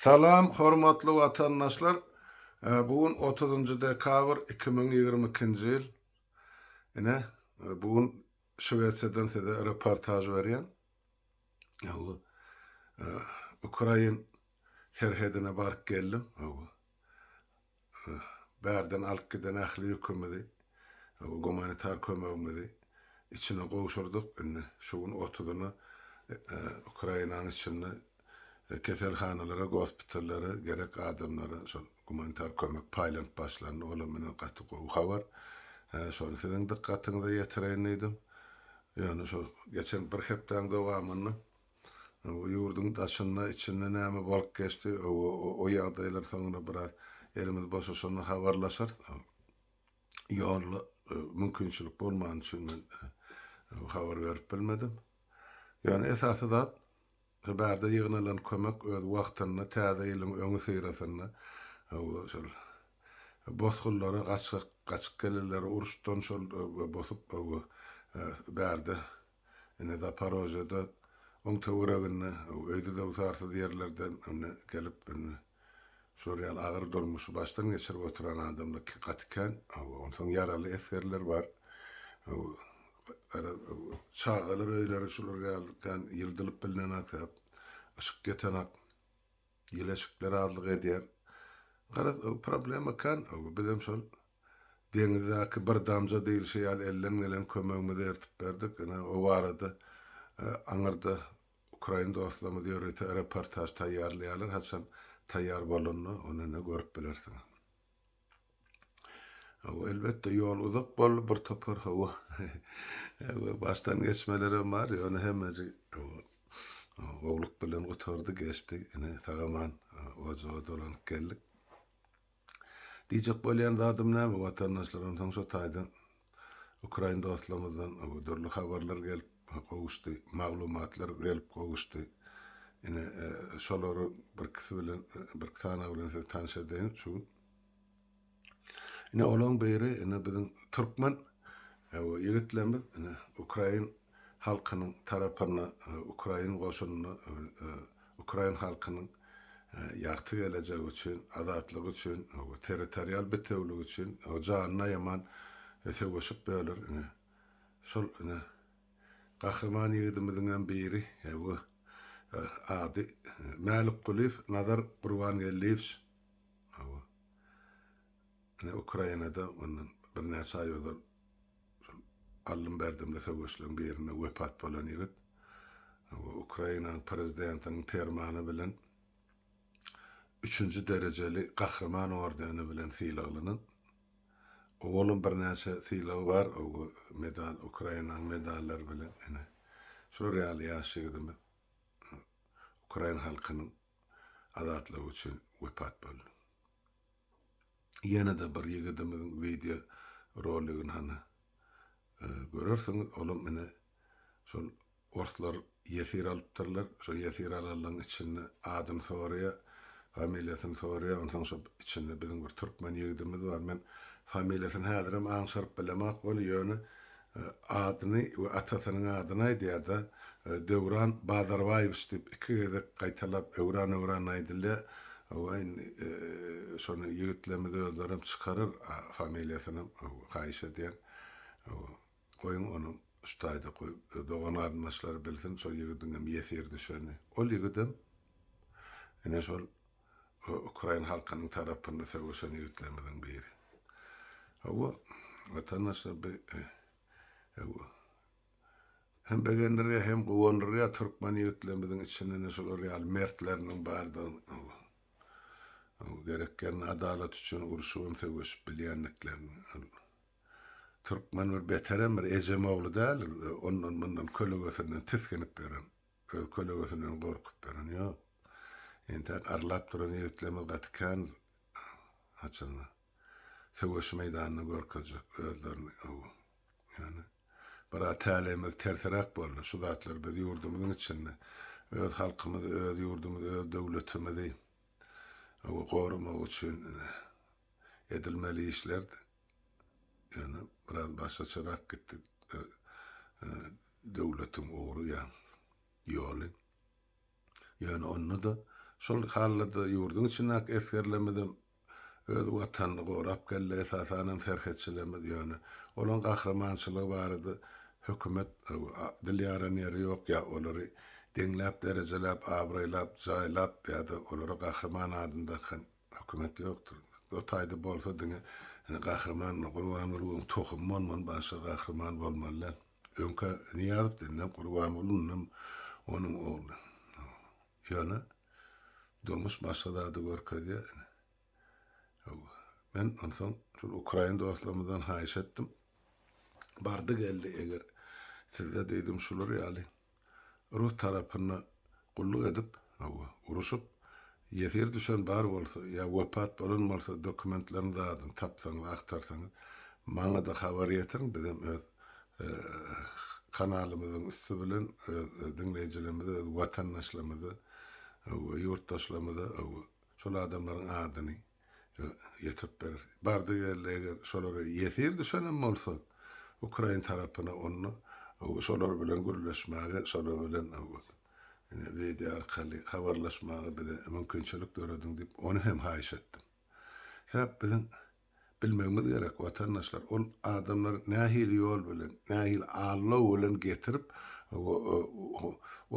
Salam hormatly watandaşlar bu gün otuzynjy dekabr iki müň ýigrimi ikinji ýyl ine bu gün şwesiýadan size reportaž berýän bu ukrain serhedine baryp geldim bu Bärden alyp giden ähli ýükümizi, gumanitar kömegimizi içine gowşurdyk. Indi şu gün otuzyna Ukrainanyň içinde keselhanalara, gospitallara gerek adamlara şol gumanitar kömek paýlanyp başlandy. Olam meniň gaty gowy habar. Şony siziň dykgatyňyza ýetireýin diýdim. Ýöne şu geçen bir hepdäň dowamynda Bu ýurduň daşynda, içinde näme bolup geçdi, o ýagdaýlar soňra biraz elimiz boşaşanda habarlaşarys. Ýolla mümkinçilik bolmany üçin men habar berip bilmedim. Ýöne esasy zat, şu bärde ýygnalan kömek öz wagtynda täze ýylyň öňüsyrasynda şol bosgunlara gaçgak gaçyp gelenleri uruşdan şol bosup bärde Ine, Zaporojýede, oň töwereginde, öýdüzöwsarsyz ýerlerden ine, gelip, ine, şular ýaly agyr durmuşy başdan geçirip oturan adamlar gaty kän. Hawa, onsoň ýaraly esgerler bar. Hawa, gara, çagalar öýleri şular ýaly kän ýyldylyp bilnenok, yşyk ýetenok. Ýylaşyklar azlyk edýär. Garaz, o problema ekän. Bizem şol deňizdäki bir damja diýlişi ýaly elden gelen kömegimizi ertip berdik. Ine, o barada aňyrda ukrain dostlarymyz ýörite reportaž taýýarlaýarlar. Haçan taýýar bolanda, ony ine görüp bilersiňiz. Hawa, elbetde, ýol uzak boldy, bir topar, hawa, başdan geçmelerem bar, ýöne hemmeji, hawa, gowulyk bilen gutardy, geçdi, ine, sag-aman ojaga dolanyp geldik. Diýjek bolýan zadym näme, watandaşlar, onsoň şo taýdan Ukrain dostlarymyzdan dürli habarlar gelip gowuşdy, maglumatlar gelip gowuşdy. Ine, şolary birkisi bilen, birki sanawy bilen sizi tanyş edeýin şu gün. Ine, olaryň biri, ine, biziň türkmen ýigitlerimiz, ine, ukrain halkynyň tarapynda ukrain goşunynda ukrain halkynyň ýagty gelejegi üçin, azatlygy üçin, territorial bitewiligi üçin janyna ýaman söweşip böler. Ine, şol ine gahryman ýigidimiziňem biri bu ady Mälikgulyýew Nazar Gurbangeldiýewiç. Hawa. Ine Ukrainada mundan birnäçe aý ozal. Şol aldym-berdimli söweşleriň birinde wepat bolan ýigit Ukrainanyň prezidentiniň permany bilen üçünji derejeli Gahryman ordeni bilen sylaglanan. Owalam birnäçe sylagy bar, medal, Ukrainanyň medallary bilen. Ine, şular ýaly ýaş ýigidimiz ukrain halkynyň azatlygy üçin wepat boldy. Ýene-de bir ýigidimiziň wideo roligini hany görersiňiz. Olam ine şol orslar ýesir alypdyrlar. Şo ýesir alanlaryň içinde adyny soraýar, familiýasyny soraýar. Onsoň şo içinde biziň bir türkmen ýigidimiz bar. Men familiýasyny häzirem aňşyryp bilemok weli, ýöne Adyny we atasynyň adyny aýdýar-da, Döwran Bazarbaýewiç diýip iki gezek gaýtalap, öwran-öwran aýdylýar. Hawa, indi şony ýigitlerimiz özlerem çykarar familiýasynam, haýyş edýän. Goýuň onuň şu taýda goýup, dogan-garyndaşlary bilsin, şo ýigidiňem ýesir düşeni. Ol ýigidem ine şol. Bu ukrain halkynyň tarapynda söweşen ýigitlerimiziň biri. Hawa, watandaşlar bi hawa. Hem begendirýär, hem guwandyrýar türkmen ýigitlerimiziň içinde-ne şular ýaly mertleriniň bardygyny, hawa. Hawa, gerek ýerinde adalat üçin urşup hem söweşip bilýändiklerini, ol türkmen bir beterem bir ejem ogly däldir, ondan-mundan kölegesinden tisginip ýören. Öz kölegesinden gorkup beren ýok. Entäk arlap duran ýigitlerimiz gaty kän haçanda. Söweş meýdanynda görkezjek özlerini ow. Ýöne biraz täleýimiz terseräk boldy. Şu zatlar biz ýurdumyzyň içinde öz halkymyzy, öz ýurdumyzy, öz döwletimizi ow goramagy üçin edilmeli işlerdi. Ýöne biraz başgaçarak gitdi döwletiň ugry ýa ýoly. Ýöne onda-da şol halyda ýurduň içindäki esgerlerimizem öz Watanyny gorap geldi, esasanam serhetçilerimiz. Ýöne olaryň gahrymançylygy barada hökümet dil ýaran ýeri ýok, ýa olary deňläp, derejeläp, abraýlap, jaýlap ýa-da olara Gahryman adyny dakan Hökümet ýokdur. O taýda bolsa diňe ine Gahryman Gurbangulyň tohumy bolmaly başga gahryman bolmaly däl. Öňkä Nyýazow denilen Gurbanguly ynam onuň ogly. Ýöne durmuş başga zady görkezýär ine. Hawa. Men onsoň şol ukrain dostlarymyzdan haýyş etdim. Bardy geldi eger sizde diýdim şular ýaly Rus tarapynda gulluk edip, hawa, uruşyp, ýesir düşen bar bolsa, ýa wepat bolan bolsa, dokumentlerini zadyny tapsaňyz, agtarsaňyz, maňa-da habar ýetiriň, bizem öz kanalymyzyň üsti bilen öz diňleýjilerimize, öz watandaşlarymyza, hawa, ýurtdaşlarymyza, hawa, şol adamlaryň adyny, ýetirip berer. Bardy geldi eger şolara ýesir düşenem bolsa ukrain tarapyna onda şolar bilen gürleşmäge şolar bilen wideo arkaly habarlaşmaga bize mümkinçilik dörediň diýip ony hem haýyş etdim. Sebäp biziň bilmegimiz gerek watandaşlar ol adamlary nähili ýol bilen nähili aldaw bilen getirip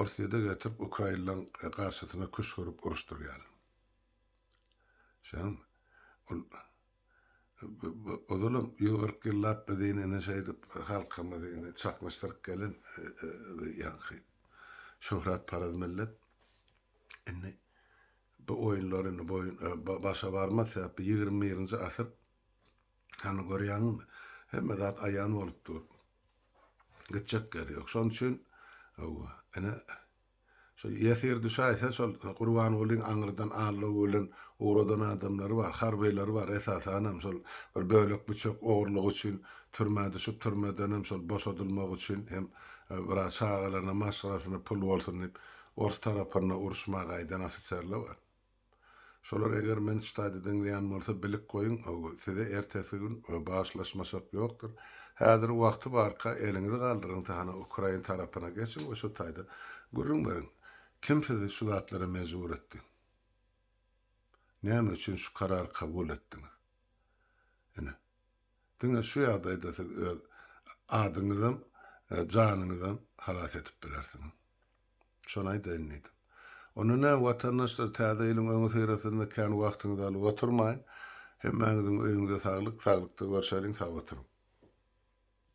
orsýede getirip ukrainlaň garşysyna küşgürip uruşdyrýarlar. Şonuň ol ozalam ýüz kyrk ýyllap biz ine şeýdip halkymyzy ine çaknyşdyryp gelen ýaňky şöhratparaz millet indi bu oýunlar indi boýun başa barmaz sebäpli ýigrimi birinji asyr hany görýäňizmi hemme zat aýan bolup dur gitjek ýeri ýok şonuň üçin hawa ine Şol ýesir düşäýse şol Gurbangulyň aňyrdan allow bilen ugradan adamlary bar, harbylary bar esasanam şol bir bölek büçek ogurlygy üçin türmä düşüp türmedenem şol boşadylmagy üçin hem biraz çagalaryna maşgalasyna pul bolsun diýip ors tarapynda uruşmaga gaýdan ofiserler bar. Şolar eger men ştaýda diňleýän bolsa bilip goýuň size ertesi gün bagyşlaşmaşak ýokdur. Häzir wagty barka eliňizi galdyryňsa hany ukrain tarapyna geçiň we şo taýda gürrüň beriň. Kim sizi şu zatlara mejbur etdi? Näme üçin şu karary kabul etdiňiz? Ine. Diňe şu ýagdaýda siz öz adyňyzam janyňyzam halas edip bilersiňiz. Şony aýdaýyn diýdim. Onda näme, watandaşlar, Täze ýylyň öňüsyrasynda kän wagtyňyzy alyp oturmaýyn. Hemmäňiziň öýüňize saglyk, saglykda görşeliň, sag oturyň!